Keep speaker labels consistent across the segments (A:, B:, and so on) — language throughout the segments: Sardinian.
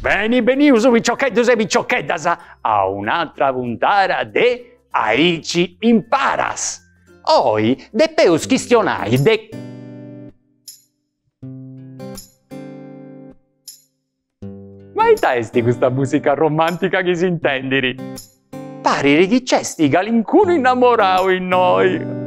A: Beni benius piciocheddus e piciocheddas a un'atra puntada de Aici imparas. Oi depeus chistionai de Ma ita esti custa musica romantica chi s'intendiri? Pariri chi c'esti calincunu innamorau innoi.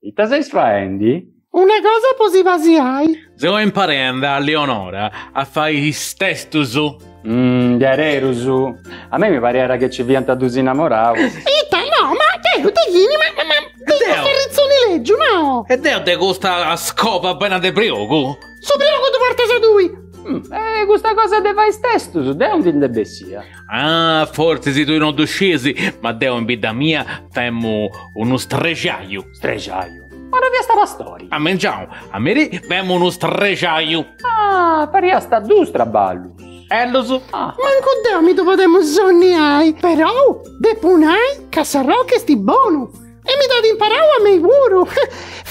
A: Ita seis faendi? Una
B: cosa po si pasiai. Seu
C: imparendi a Leonora a fai is testus. Mmm, diaderus.
A: A mei mi pariat chi nci fiant dus innamoraus. Ita, no,
B: ma deu de chini, ma, ma, ma, de is de s'arritzoni legiu, no. E deu de
C: custa scova prena de priogu. Su priogu ddu portas
B: a tui. E custa
A: cosa de fai is testus, de aundi nd'est bessia.
C: Ah, fortzis tui non ddu sciis, ma deu in bidda mia femu unu strexaju.
A: Strexaju? Ma no fiast pastori? A mengianu, a
C: merì, femu unu strexaju. Ah,
A: fariast duus traballus. Bellus.
C: Ah. Mancu deu
B: mi ddu podemu sonniai, perou depu nai ca Sarroc est bonu e mi dd'at imparau a mei puru.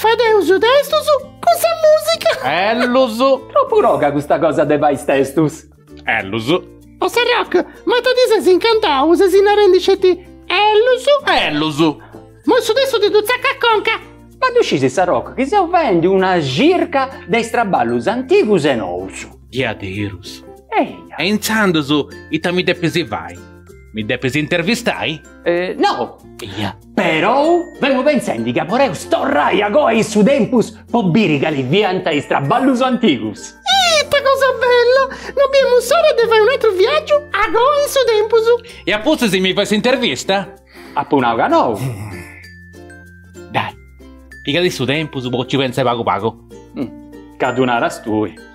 B: Fadeus is testus cun sa musica. Bellus. Tropu
C: toga custa
A: cosa de fai is testus. Ellus.
C: O Serroc,
B: ma ta ti ses incantau, sesi narendi sceti Ellus. Ellus.
C: Moi su testu ti
B: ddu tzaccu a conca. Ma ddu scisi
A: Serroc chi seu faendi una circa de is traballus antigus e nous. Diaderus.
C: Eia. E
A: intzandus
C: ita mi depis fai? Mi depis intervistai? Eeh, no.
A: Eia. Perou femu pentzendi ca poreus torrai a coa in su tempus po biri cali fiant is traballus antigus. Ita cosa
B: bella! No biemus s'ora de fai un'atru viaggiu a coa in su tempus. E a pustis si mi
C: fais s'intervista? Apu nau
A: ca
C: nou. Dai, pigadì su tempus po ci pentzai pagu pagu. Gei ddu
A: naras tui.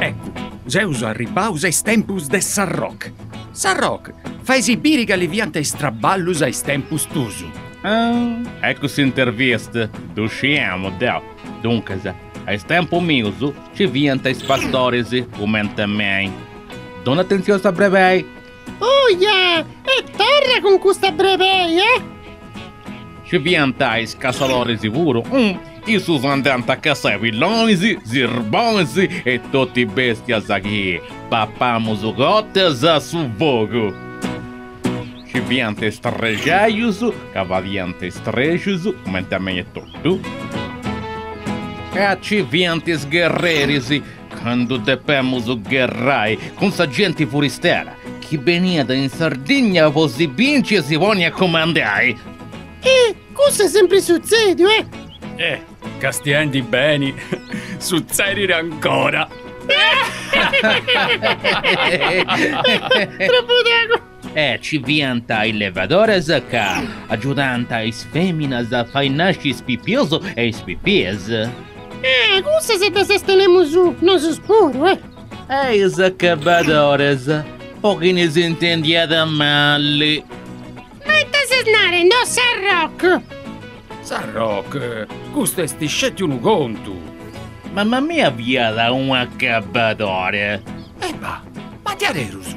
D: Eccu, seus arribbaus a is tempus de Sarroc. Sarroc, faisi biri cali fiant is traballus a is tempus tusu.
C: Ah, eccu s'intervista, ddu sciemu deu. Duncas, a is tempus mius nci fiant is pastoris, cumenti a mei. Dona atentzioni a sa brebei.
B: Oja! E torra cun custa
C: brebei,
B: eh!
C: Ci
B: fiant
C: is
B: cassadoris
C: puru, issus andànt a cassai pillonis, sirbonis e totu bèstias chi papamus cotas a su fogu. Ci fiant is strexajus ca fadiant is strexus, cumenti a mei etotu, e a ci fiant is gherreris, Candu depemus gherrai cun sa genti furistera chi beniat in Sardigna po si binciri e si poni a cumandai. E
B: cussu est sempri sutzediu, eh!
D: E, castiendi beni, sutzedit ancora.
B: Tropu togu. E ci
C: fiant is levadores ca agiudànt is fèminas a fai nasci is pipius e is pipies. Ah,
B: cussas ddas tenemus nosus puru, eh! E is
C: acabadores, po chini s'intendiat mali.
B: Ma ita ses narende, o Sarroc?
D: Sarroc, custu est sceti unu contu! Mama
C: mia fiat un'acabadore. E
D: bah, ma diaderus,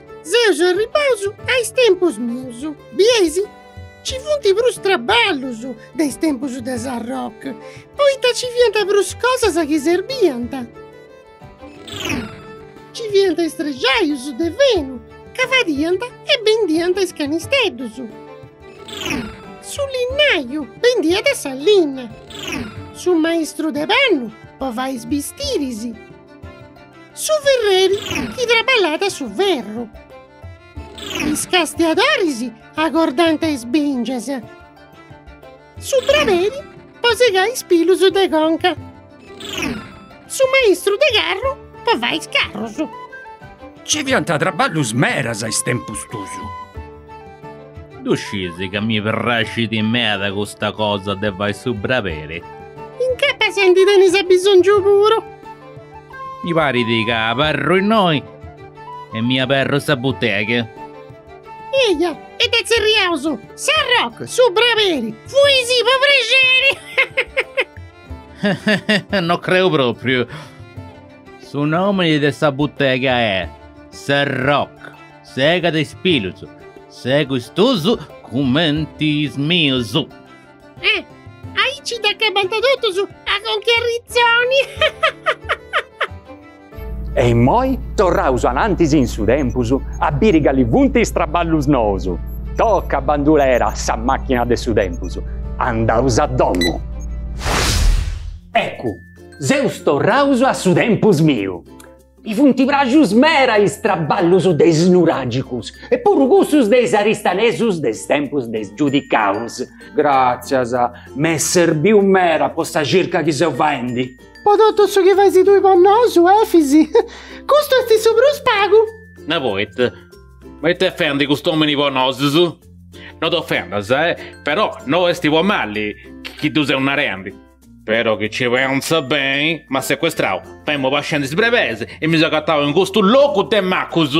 B: Seus arribaus a is tempus mius, bieis? Ci funt prus traballus de is tempus de Sarroc, poita ci fiant prus cosas chi serbiant. Ci fiant is strexaius de fenu ca fadiant e bendiant is canisteddus, su linnaiu bendiat sa linna, su maistru de pannu po fai is bistiris, Su ferreri chi traballat su ferru. Is castiadoris agordant is bìngias. Su braberi po segai is pilus de conca. Su maistru de carru po fai is carrus. Nci
D: fiant traballus meras a is tempus tuus.
C: Ddu scisi ca mi praxit meda custa cosa de fai su braberi. Incapas
B: ndi tenis abisongiu puru. Mi
C: parit ca abarru innoi e mi aberru sa butega.
B: Eja, e dda tzerriaus, Sarroc, su braberi, fuisi po prexeri! No creu
C: propriu. Su nomi de sa butega est, Sarroc. Segat is pilus. Segu is tuus cumenti is mius. Eh! Aici
B: dd'acabant totus a conca 'e
A: arritzoni! E immoi torraus anantis in su tempus a biri cali funt is traballus nous. Toca bandulera sa machina de su tempus. Andaus a domu. Eccu! Seus torraus a su tempus miu. I funt praxus mera is traballus de is nuràgicus e puru cussus de is aristanesus de is tempus de is giudicaus. Gràtzias, m'est serbiu mera po sa circa chi seu faendi. Po totu su
B: chi faisi tui po nosu, Efisi, custu est su prus pagu. Na,
C: poita, ma it'est fendi cust'òmini po nosus? No t'ofendas, però no est po mali chi ddu seu narendi. Però chi ci pensas beni, m'at secuestrau, femu pascendi is brebeis, e mi seu agatau in custu logu de macus.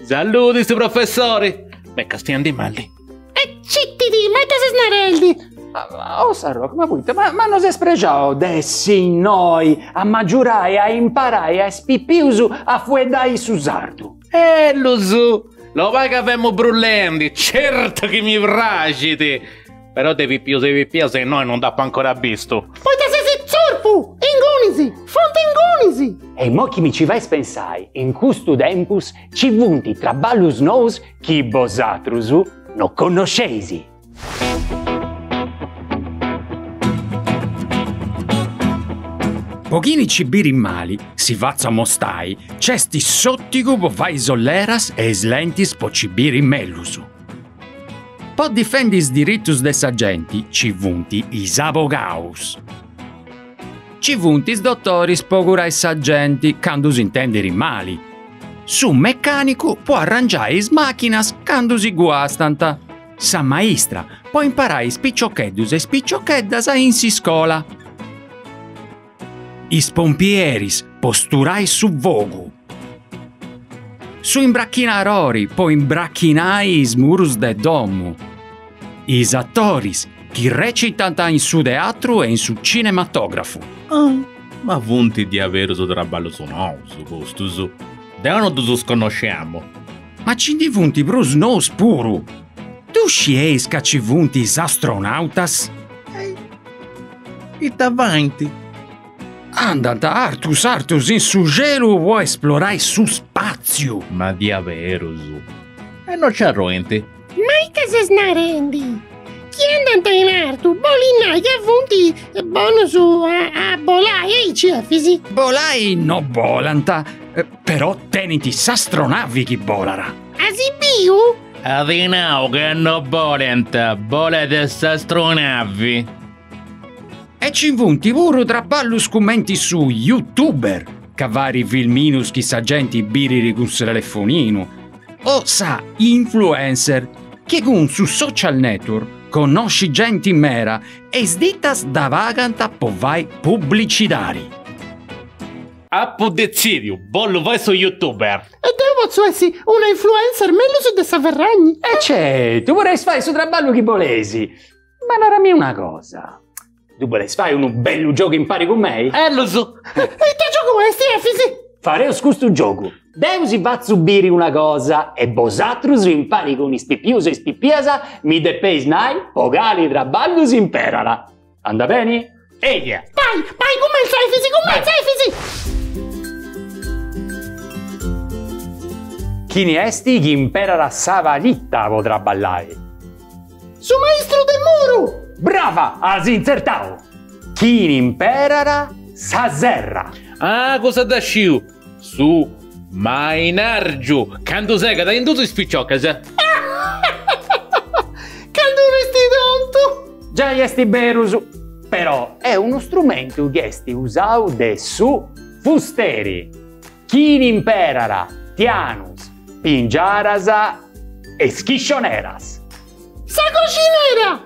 C: Saludi, su professori! M'est castiandi mali. E
B: citidi, ma ita ses narendi? Oh Sarroc,
A: ma poita? Ma no ses prexau de essi innoi a m'agiurai e a imparai a is pipius a fueddai su sardu?
C: Ellus! Labai ca femu brullendi, certu chi mi praxit! Però de pipius e pipias innoi non nd'apu ancora bistu. Poita ses
B: tzurpu! Ingunis! Funt ingunis! E imoi chi mi ci
A: fais pensai, in custu tempus ci funt traballus nous chi bosatrus no connosceis.
D: Po chini ci birit mali, si fatzu a mostai, c'est s'òtigu po fai is olleras e is lentis po ci biri mellus. Po difendi is diritus de sa genti ci funt is abogaus. Ci funt is dotoris po curai sa genti candu s'intenderit mali. Su mecànicu po arrangiai is màchinas candu si guastant. Sa maistra, po imparai is piciocheddus e is piciocheddas in s'iscola. Is pompieris, po sturai su fogu. Su imbrachinarori, po imbrachinai is murus de domu. Is atoris, chi recitant in su teatru e in su cinematografu. Ah, ma
C: funt diaberus traballus nous custus. Deu no ddus connosciamu. Ma ci ndi
D: funt prus nous puru! Ddu scieis ca ci funt is astronautas?
C: Ita faint?
D: Andant artus artus in su celu po esplorai su spàtziu! Ma diaberus?
C: E no ci arroint? Ma ita
B: ses narendi? Chi andant in artu bolit nai ca funt bonus a bolai, aici Efis? Bolai no
D: bolant, però tenint s'astronavi chi bolat. As biu?
C: At nau ca no bolent, bolat
D: s'astronavi. E ci funt puru traballus cumenti su youtuber, ca fait filminus chi sa genti birit cun su telefoninu, o sa influencer chi cun su social network connoscit genti mera e is ditas dda pagant po fai publicidari.
C: Apu detzidiu, bollu fai su youtuber. E deu potzu
B: essi una influencer mellus de sa Ferragni? E certu,
A: poreis fai su traballu chi boleis. Ma narami una cosa. Ddu boleis fai unu bellu giogu impari cun mei?
C: Ellus! Ita
B: giogu est Efis? Fareus
A: custu giogu. Deu si fatzu biri una cosa e bosatrus impari cun is pipius e is pipias mi depeis nai po cali traballu s'imperat. Andat beni? Eia! Bai, bai,
B: cumentza Efis, cumentza Efis!
A: Chini est chi imperat sa palita po traballai?
B: Su maistru de muru! Brava!
A: As intzertau! Chini imperat sa serra. Ah, cussa
C: dda sciu! Su mainargiu candu segat in dus is
B: piciocas. Candu ses tontu. Giai esti
A: berus, però è unu strumentu chi esti usau de su fusteri. Chini imperara, tianus, pingiaras e schiscioneras. Sa
B: coxinera!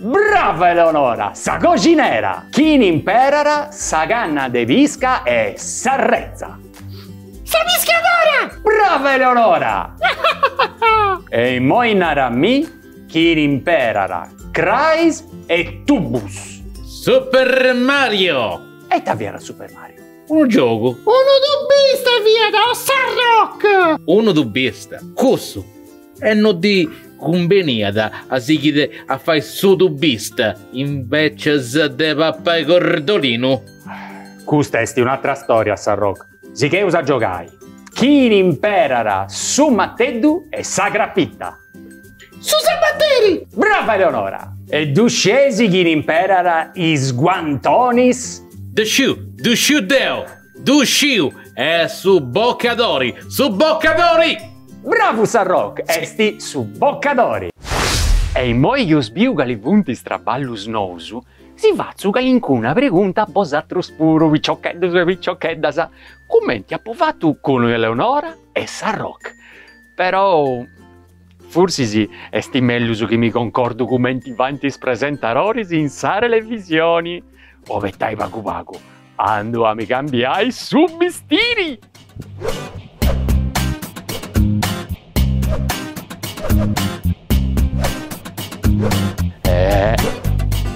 A: Brava Eleonora! Sa coxinera! Chini imperara, sa canna de pisca e s'arretza. Sa
B: piscadora! Brava Eleonora!
A: E immoi nara a mi, chini imperara, crais e tubus. Super
C: Mario! E ita fiat Super
A: Mario? Unu
C: giogu. Unu
B: tubista fiat o Sarroc. Unu
C: tubista, cussu. E no ddi cumbeniat a sighiri a fai su tubista invecias de papai cordolinu.
A: Custa est un'atra storia, Sarroc. Sigheus a giogai. Chini imperat su mateddu e sa crapita.
B: Su sabateri! Brava
A: Eleonora! E ddu scesi chini imperat is guantonis? Ddu sciu,
C: ddu sciu deu! Ddu sciu! Est su bucidori! Su bucidori! Bravu
A: Sarroc! Est su bucidori! E immoi chi eus biu cali funt is traballus nous, si fatzu calincuna pregunta a bosatrus puru, piciocheddus e piciocheddas, cumenti apu fatu cun Eleonora e Sarroc. Però forsis est mellus chi mi concordu cumenti faint is presentadoris in sa televisioni, abetai pagu pagu, andu a mi cambiai su bistiri!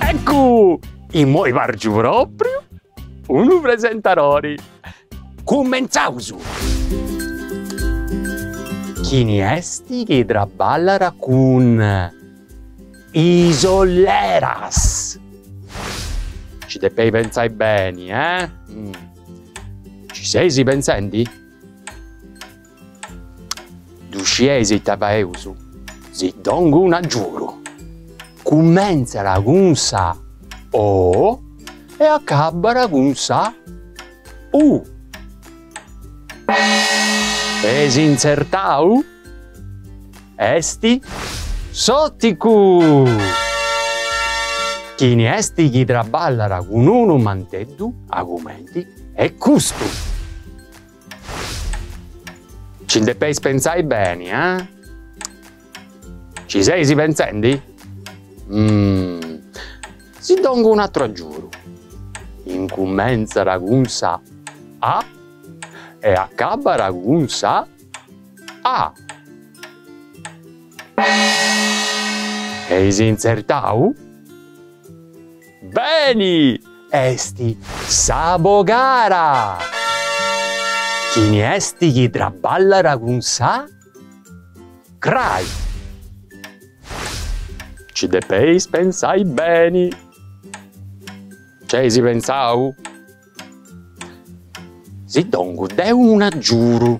A: Eccu! Immoi pàrgiu pròpriu unu presentadori! Cumentzaus! Chini est chi traballat cun is olleras? Nci depeis pentzai beni, eh? Nci seis pentzendi? Ddu scieis ita faeus? Si dongu un agiudu. Cummentzat cun sa O e acabat cun sa U. Eis intzertau? Est s'òticu! Chini est chi traballat cun unu manteddu aici comenti e custu! Ci depeis pentzai beni, a? Ci seis pentzendi? Umm. Si dongu un'ateru agiuru.
E: Incumentzara cun sa A e acabara cun sa A. Eis intzertau? Beni! Est s'abogara! Chini est chi traballat cun sa crai? Ci depeis pentzai beni. C'eis pentzau? Si dongu deu un'agiuru.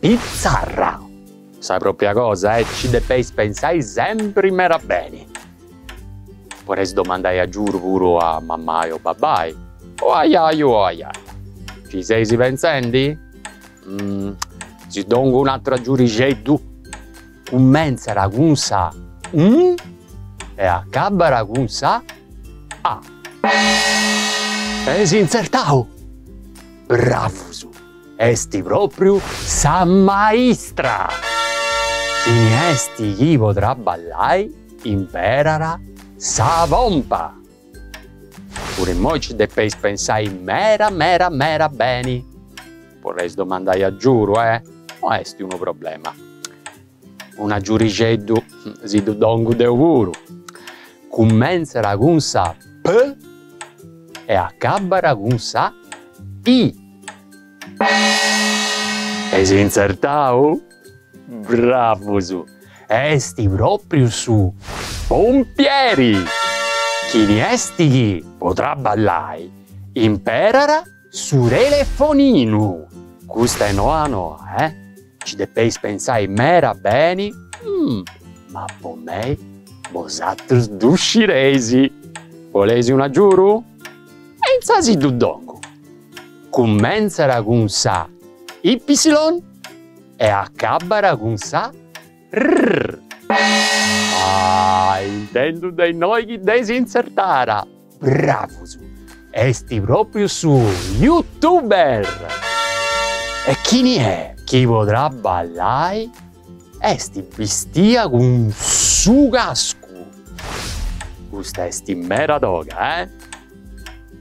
E: Pitzarra! Sa propria cosa, eh, ci depeis pensai sempri meda beni. Podeis domandai agiudu puru a mammai o babbai, o a jaju o a jaja, Ci seis pentzendi? Umm. Si dongu un'ateru agiudixeddu, cummentzat cun sa M e acabbat cun sa a. Eis intzertau! Bravus! Esti propriu sa maistra! Chini esti chi po traballai imperara sa pompa! Puru immoi ci depeis pensai mera mera mera beni! Poreis domandai agiuru, eh? No esti unu problema! Un'agiurixeddu si ddu dongu deu puru. Cummentzara cun sa P e accabbara cun sa I. Eis intzertau? Bravus! Esti propriu su pompieri! Chini esti chi, po trabballai, imperara Su telefoninu! Custa è noa noa, eh! Ci depeis pentzai mera beni, mm! Ma po mei bosatrus ddu scireis! Boleis un agiuru? E insà si ddu dongu! Cummentzara cun sa Ippisilon e acabbara cun sa Rrrr! Ah! Intendu de innoi chi dd'eis intzertara! Bravus! Est pròpriu su Youtuber! E chini est chi po traballai est bistia cun su cascu? Custa est mera toga, eh!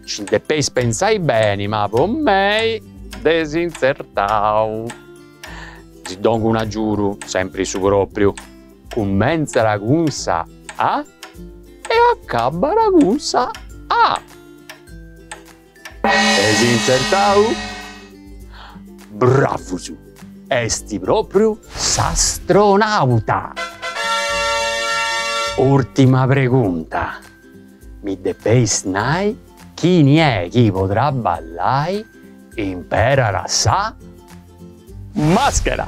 E: Ci depeis pentzai beni, ma po mei dd'eis intzertau! Si dongu un'agiudu, sempri su pròpriu. Cummentzara cun sa A e acabbara cun sa A. Dd'eis intzertau? Bravus! Est propriu s'astronauta! Urtima pregunta, mi depeis nai chini è chi podrà ballai imperara sa maschera!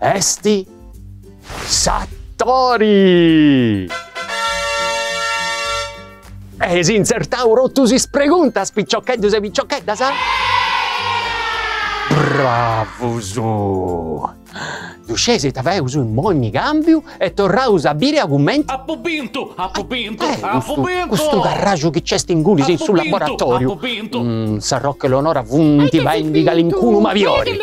E: Est s'atori! Eis intzertau totus is preguntas piciocheddus e piciocheddas? Bravus! Ddu scieis ita feus immoi? Cambiu E torraus a biri a cumenti. Apu
C: bintu, apu bintu, apu bintu! Apu
E: bintu! Custu carraxu chi nc'est ingunis in su laboratoriu. Apu bintu, apu bintu! Mmm, sa Rocca e Leonora funti faendi calincunu mabiori.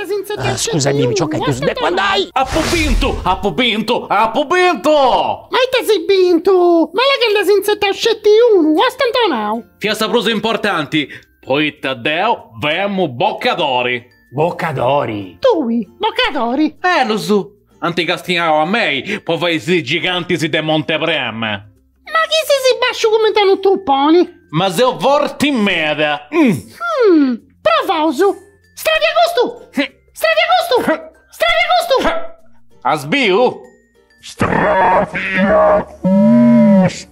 E: Scusai-mì, piciocus, deu depu andai! Apu bintu,
C: apu bintu,
B: apu bintu! Ma ita as bintu? Ma là ca nd'as intzertau sceti unu, stantonau! Fiat sa
C: prus importanti, poita deu femu bocadori. Bocadori?
A: Tui,
B: bocadori? Bellus!
C: Ant castiau a mei po fai is gigantis de Monte Prama.
B: Ma chi sesi basciu cumenti a unu tuponi. Ma seu
C: forti meda. Hum.
B: Provaus. Stravia custu! Stravia custu! Stravia
C: custu! As biu? Stravia
F: custu!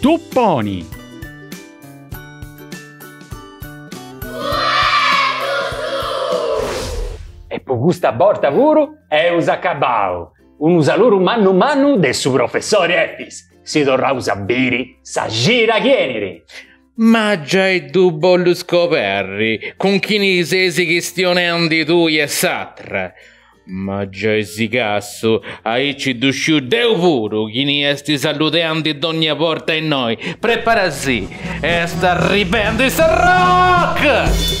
A: Tuponi! E po custa borta puru eus acabau! Unu saluru mannu mannu de su professori Efis, si torraus a biri sa cira chi eniri!
C: Ma giai ddu bollu scoberri cun chini ses chistionendi tui e s'atra. Ma giai si cassu, aici ddu sciu deu puru chini est saludendi dogna borta innoi, preparasi, est arribendi sa rock!